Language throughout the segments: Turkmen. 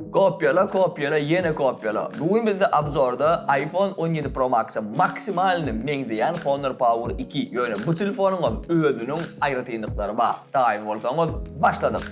Kopýala kopýala ýene kopýala. Bu gün bizde obzorda iPhone on ýedi Pro Max-a maksimalny meňzeýän Honor Power iki, ýöne bu telefonyňam özüniň aýratynlyklary bar. Daýyň bolsaňyz, başladyk!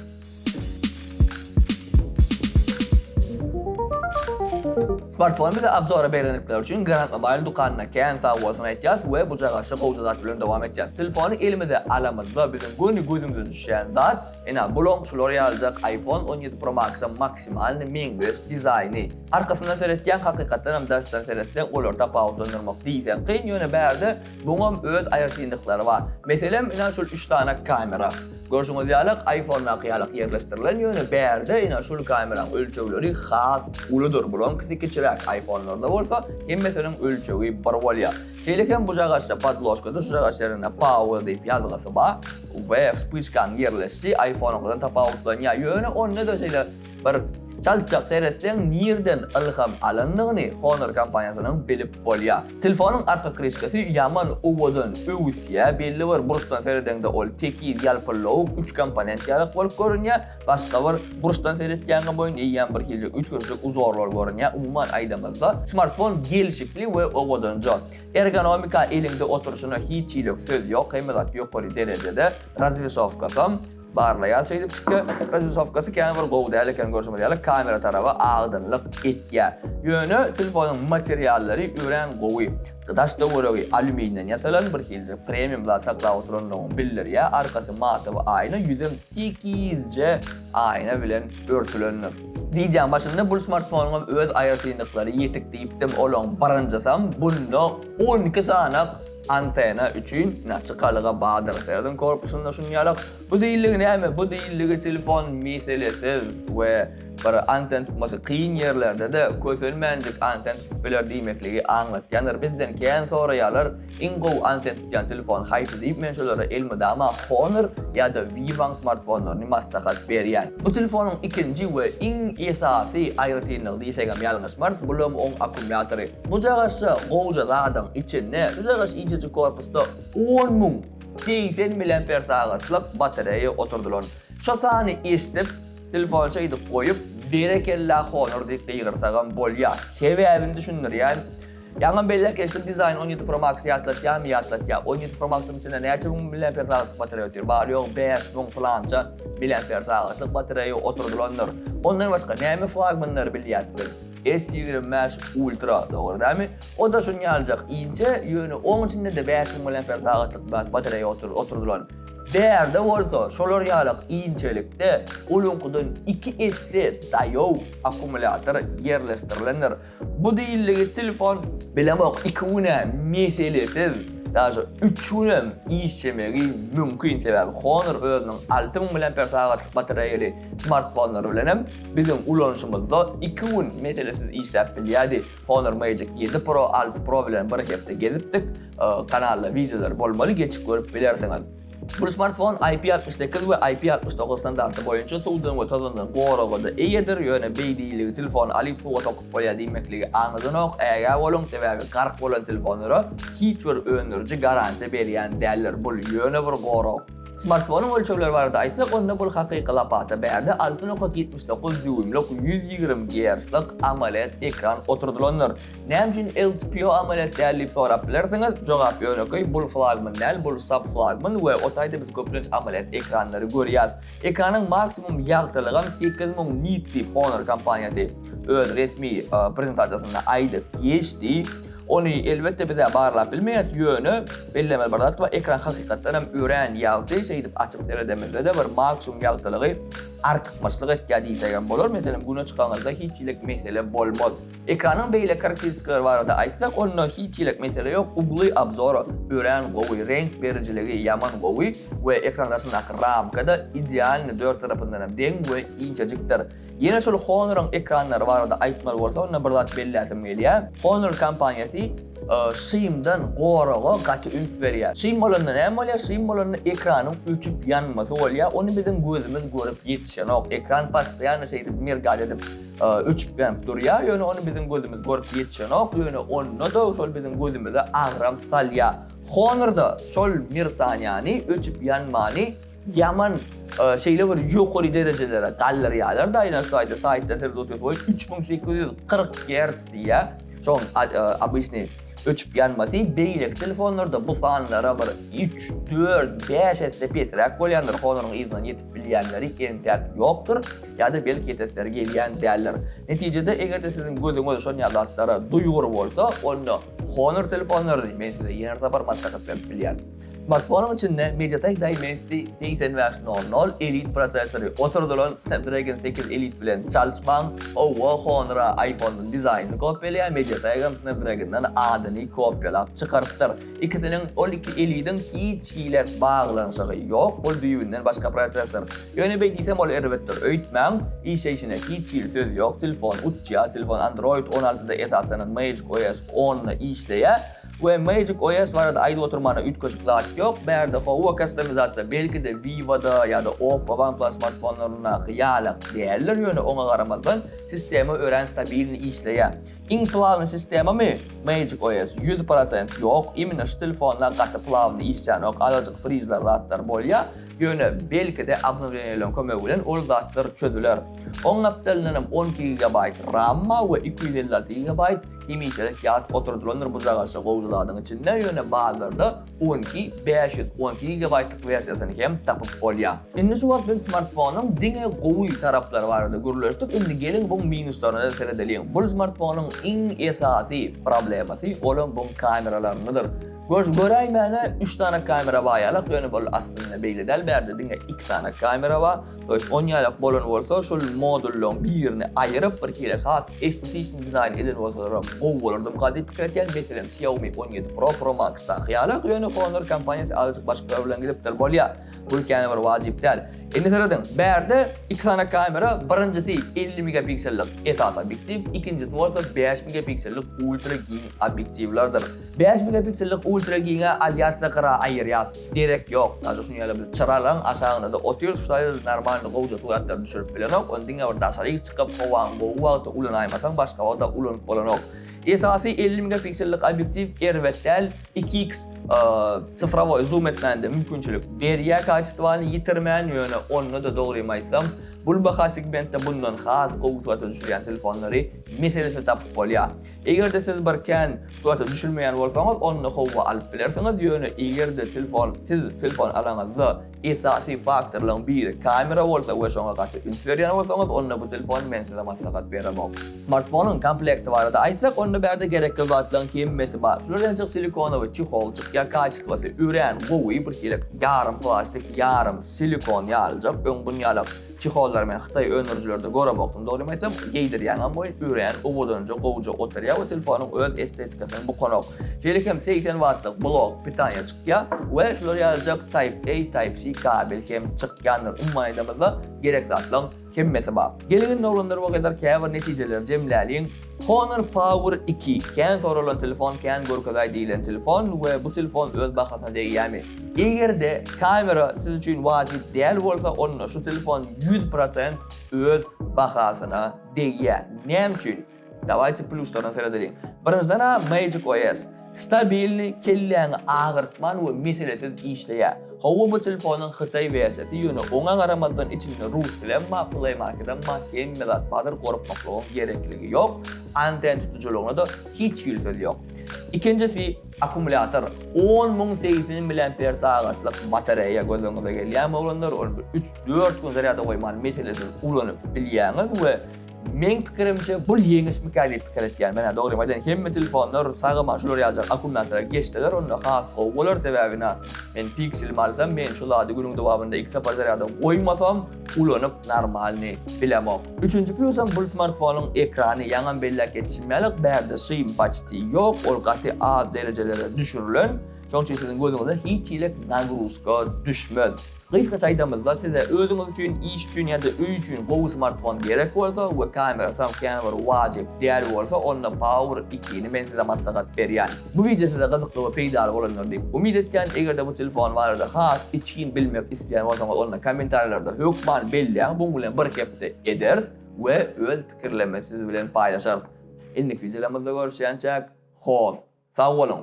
Smartfony bize obzora berendikleri üçin Grand Mobile dükanyna kän sag bolsun aýtýas we bujagaşy gowja zat bilen dowam etýäs. Telefony elimize alamyzda biziň göni gözümize düşýän zat Ine, bulaň şular ýalyjak iPhone on ýedi Pro Max-a maksimalny meňzeş dizaýny. Arkasyndan seretýäň, hakykatdan hem daşdan seretseň olary tapawutlandyrmak diýseň kyn, ýöne bärde buňam öz aýratynlyklary bar. Meselem, ine şul üç sany kamera. Görşüňiz ýaly, iPhone-daky ýalak ýerleşdirilen, ýöne bärde ine şul kameraň ölçegleri has uludyr. Bulaňkysy kiçiräk, iPhone-larda bolsa hemmesiniň ölçegi bir bolýar. Şeýle hem bu jagaşda podložka duşjagaş ýerinde power diýip ýazgysy bar we wspyçkanyň ýerleşişi iPhone-yňkydan tapawutlanýar. Ýöne onda-da şeýle bir çaltjak seretseň nirden ylham alandygyny Honor kompaniýasynyň bilip bolýar. Telefonyň arka kryşkasy ýaman owadan öwüsýär, belli bir burçdan seredeňde ol tekiz ýalpyllawuk üç komponent ýarak bolup görünýär. Başga bir burçdan seretýäňä boýun eýýän bir hili üýtgeşik uzorlar görünýär. Umuman aýdamyzda, smartfon gelşikli we owadanja. Ergonomika eliňde oturyşyna hiç hilik söz ýok, hemme zat ýokary derejede. Razwesowkasam barlaýar şeýdip şike. Razwesowkasy kän bir gowy däl eken görşümiz ýaly, kamera taraba aýdyňlyk etýär. Ýöne telefonyň materiallary örän gowy. Daş töweregi alýuminiden ýasalan, bir hiljik premium zat saklap oturandygyňy bildirýär. Arkasy mata we aýna, ýüzem Tikizje aýna bilen örtülendir. Wideoň başynda bul smartfonyňam öz aýratynlyklary ýetik diýipdim, olaň birinjisem bunda on iki sany antena üçin naçykalyga bardyr. Serdin korpusynda şuny ýalak. Bu diýildigi näme? Bu diýildigi telefon meselesiz we bir anten tutmasy kyn ýerlerde-de kösenmänjik anten tutup biler diýmekligi aňlatýandyr. Bizden kän soraýarlar, Iň gowy anten tutýan telefon haýsy diýip men şolara elmydama Honor ýa-da Viva-nyň smartfonlaryny maslahat berýän. Bu telefonuň ikinji we iň esasy aýratynlygy diýsegem ýalňyşmarys, bulam oň akkumýatory. Bu jagaşça gowja zadyň içinde, şu jagaş inçejik korpusda on müň segsen miliampersagatlyk batareýa oturdylan. Şo sany eşdip, telefony şeýdip goýup, berekella Honor diýip gygyrsagam bolýar. Sebäbini düşündirýän. Ýaňam belläp geçdim dizaýn on ýedi pro max ýatlatýamy ýatlatýa on ýedi pro maxyň içinde näçe müň miliamper sagatlyk batareýa otyr bary ýogy bäş müň pylança miliamper sagatlyk batareýa oturdylandyr ondan başga näme flagmanlary bilýäs biz s ýigrimi bäş ultra dogry dämi oda şuny ýaljak inçe ýöne oň içindede bäş müň miliamper sagatlyk batareýa otyr oturdylan bärde bolsa şolar ýalak inçelikde oluňkydan iki esse daýow akkumulýator ýerleşdirilendir. Bu diýildigi telefon bilemok iki güne meselesiz daže üç günem işjemegi mümkin sebäbi Honor özüniň alty müň mAh batareýaly smartfonlary bilenem biziň ulanyşymyzda iki gün meselesiz işläp bilýädi Honor Magic ýedi pro alty pro bilen bir hepde gezipdik kanalda wideolary bolmaly geçip görüp bilersiňiz. Bu smartfon IP68 we IP69 standarty boýunça suwdan we tozandan goraga-da eýedir, ýöne beý diýiligi telefony alyp suwa sokup bolýar diýmekligi aňladynok, ägä boluň, sebäbi gark bolan telefonlara hiç bir öndüriji garantiýa berýän däldir, bul ýöne bir gorag. Smartfonyň ölçegleri barada aýtsak, onda bul hakyky lapata bärde alty nokat ýetmiş dokuz dýuýmlyk ýüz ýigrimi gertslik AMOLED ekran oturdylandyr. Näme üçin LCPO amalyýet däl diýip sorap bilersiňiz. Jogap ýönekeý, bul flagman däl, bul subflagman we o taýda biz köplenç amalyýet ekranlary görýäs. Ekranyň maksimum ýagtylygam sekiz müň nit diýip Honor kompaniýasy öz resmi prezentasiýasynda aýdyp geçdi. Ony elbetde biz-ä barlap bilmeýäs, ýöne bellemeli bir zat bar, ekran hakykatdan hem örän ýagty, şeýdip açyp seredemizde-de bir maksimum ýagtylygy artykmaçlyk etýär diýsegem bolar. Meselem, Güne çykaňyzda hiç hili mesele bolmaz. Ekranyň beýleki harkteristikleri barada aýtsak onda hiç diýlek mesele ýok ugly obzora örän gowy reňk berijiligi ýaman gowy we ekran arasyndaky ramkada idealny dört tarapyndanam deň we injejikdir ýene şol honoryň ekranlary barada aýtmaly bolsa onda bir zat belläsim gelýär honor kompaniýasy şymdan goraga gaty üns berýär şym bolanda näme bolýar şym bolanda ekranyň öçüp ýanmasy bolýar ony biziň gözümiz görüp ýetişenok ekran postoýanno şeýdip mergaýt edip öçüp-gänip durýar, ýöne ony biziň gözümiz görüp ýetişenok, ýöne onda-da şol biziň gözümize agram salýar. Honor-da şol mertaniýany, öçüp-ýanmany ýaman şeýle bir ýokary derejelere galdyrýarlar-da, ýöne şu aýda saýtda siz otyrsyňyz, oý, üç müň sekiz ýüz kyrk gerts diýýär, şoň obyçnyý öçüp-ýanmasy, beýleki telefonlarda bu sanlara bir üç, dört, bäş esse pesräk bolýandyr, Honor-yň yzyndan ýetip bilýänleri geň däp ýokdur ýa-da belki ýetesleri gelýän däldir. Netijede, eger-de siziň gözüňiz şon ýaly zatlara duýgur bolsa, onda Honor telefonlaryny men size ýene-de bir sapar maslahat berip bilýän. Smartfonyň içinde MediaTek Dimensity 8500 Elite prosessory oturdylan Snapdragon 8 Elite bilen çalyşmaň, owo, Honor-a iPhone-yň dizaýnyny kopýalaýan MediaTek hem Snapdragon-dan adyny kopýalap çykarypdyr. Ikisiniň ol iki elidiň hiç hili baglanyşygy ýok, ol düýbünden başga prosessor. Ýöne beý diýsem ol erbetdir. Öýtmäň, işleýşine hiç hili söz ýok, telefon uçýar, telefon Android on altyda esasan Magic OS onda işleýär we Magic OS barada aýdyp oturmana üýtgeşik zat ýok, bärde howa kastomizasiýa belki-de Vivo-da ýa-da Oppo, OnePlus smartfonlaryndaky ýalak däldir, ýöne oňa garamazdan sistema örän stabilni işleýär. Iň plawny sistemamy? Magic OS ýüz prosent ýok, imенно şu telefonda gaty plawny işlänok, azajyk frizler zatlar bolýa, ýöne belkide obnowleniýalaryň kömegi bilen ol zatlar çözüler. Oň gapdalyndanam on iki gigabaýt ramma we iki ýüz elli alty gigabaýt hemişelik ýat oturdylandyr bu jagaşa gowja zadyň içinde, ýöne bazarda Bu günki bäş ýüz on iki gigabaýtlyk wersiýasyny hem tapyp bolýar. Indi şu wagt biz smartfonyň diňe gowy taraplary barada gürleşdik, indi geliň bu minuslaryna-da seredeliň. Bul smartfonyň iň esasy problemasy olam buň kameralaryndadyr. Gör, göräýmäne üç sany kamera bar ýalak, ýöne bul aslynda beýle däl, bärde diňe iki sany kamera bar. On ýaýlak bolan bolsa, şol modullaryň birini aýyryp, bir hili has estetiki dizaýn eden bolsalaram gowy bolardy diýip gadyp pikir etýän. Meselem, Xiaomi on ýedi Pro, Pro Max-daky ýaly. Ýöne Honor kompaniýasy azajyk başgalar bilen gidipdir. Bolýar. Bu ýene bir wajyp däl. Indi serediň, bärde iki sany kamera, birinjisi elli megapiksellik esasy obýektiw, ikinjisi bolsa bäş megapiksellik ultra giň obýektiwlerdir. Bäş megapiksellik ultra giňe alýas-da gyra aýyrýas. Gerek ýok, daşy şuny ýaly bilip çyralaň aşagynda-da otyr şaýyr normalny gowja suratlaryny düşürip bilenok, ony diňe bir daşaryk çykyp howaň gowy wagty ulanaýmasaň başga wagta ulanyp bolanok. Esasy elli megapiksellik obýektiw erbet däl, iki iks sifrowoý zoom etmäne-de mümkinçilik berýär kaçestwany ýitirmän, ýöne onda-da dogrymy aýtsam bul baha segmentde bundan has gowy surata düşürýän telefonlary meselesiz tapyp bolýar. Eger-de siz bir kän surata düşülmeýän bolsaňyz, onda howwa alyp bilersiňiz, ýöne eger-de telefon, siz telefon alaňyzda esasy faktorlaryň biri kamera bolsa we şoňa gaty üns berýän bolsaňyz, onda bu telefon men size maslahat beremok. Smartfonyň komplekti barada aýtsak, onda bärde gerekli zatlaryň hemmesi bar. Şular entek silikonowy çeholjyk ýa kaçytwasy örän gowy, birhili ýarym plastik, ýarym silikon ýalyjak öň bunýalak Çehollar men hytaý öndürijilerde göremokdym dogrymy aýtsam, geýdirýäňem boýun üýreýän owadanja gowja oturýa we telefonyň öz estetikasyny bukanok. Şeýle hem segsen wattlyk blok pitaniýa çykýa we şular ýalyjak Type A Type C kabel hem çykýandyr. Umuman aýdamyzda gerek zatlaň hemmesi bar. Gelin indi oglanlar we gyzlar käbir netijeleri jemläliň. Honor Power iki, kän soralan telefon, kän görkezaý diýilen telefon we bu telefon öz bahasyna degýärmi? Eger-de kamera siz üçin wajyp däl bolsa, onda şu telefon ýüz prosent öz bahasyna degýär. Näme üçin? Dawaýte pluslardan seredeliň. Birinjiden-ä Magic OS. Stabilny, kelläňi agyrtman we meselesiz işleýär. Hawa bu telefonyň hytaý wersiýasy ýöne oňa garamazdan içinde rus dilem bar play markedem bar hemme zat bardyr gorkmaklygyň gerekligi ýok anten tutujylygyna-da hiç hili söz ýok. Ikinjisi akumulýator on müň segsen miliamper sagatlyk batareýa göz öňüňize gelýämi oglanlar ony bir üç dört gün zarýada goýman meselesiz ulanyp bilýäňiz we Meň pikirimçe bul ýeňişmika diýip pikir etýän. Menä dogrymy aýdaýyn hemme telefonlar sagama şular ýaljak akkumulýatora geçseler onda has gowy bolar sebäbi na men pixelimi alsam men şu zady günüň dowamynda iki sapar zarýada goýmasam ulanyp normalny bilemok. Üçünji plusam bul smartfonyň ekrany ýaňam belläp geçişim ýaly bärde şym paçti ýok ol gaty az derejelere düşürilen şoň üçin siziň gözüňize hiç hili nagruzka düşmez. Gysgaça aýdamyzda, size özüňiz üçin, iş üçin ýa-da öý üçin gowy smartfon gerek bolsa we kamerasam känbir wajyp däl bolsa, onda Power iki-ni men size maslahat berýän. Bu wideo size gyzykly we peýdaly bolandyr diýip umyt etýän. Eger-de bu telefon barada has içgin bilmek isleýän bolsaňyz, onda kommentariýalarda hökman belläň, muň bilen bir hepde ederis we öz pikirlerimizi siz bilen paýlaşarys. Indiki wideolarymyzda görüşýänçäk, hoss, sag boluň!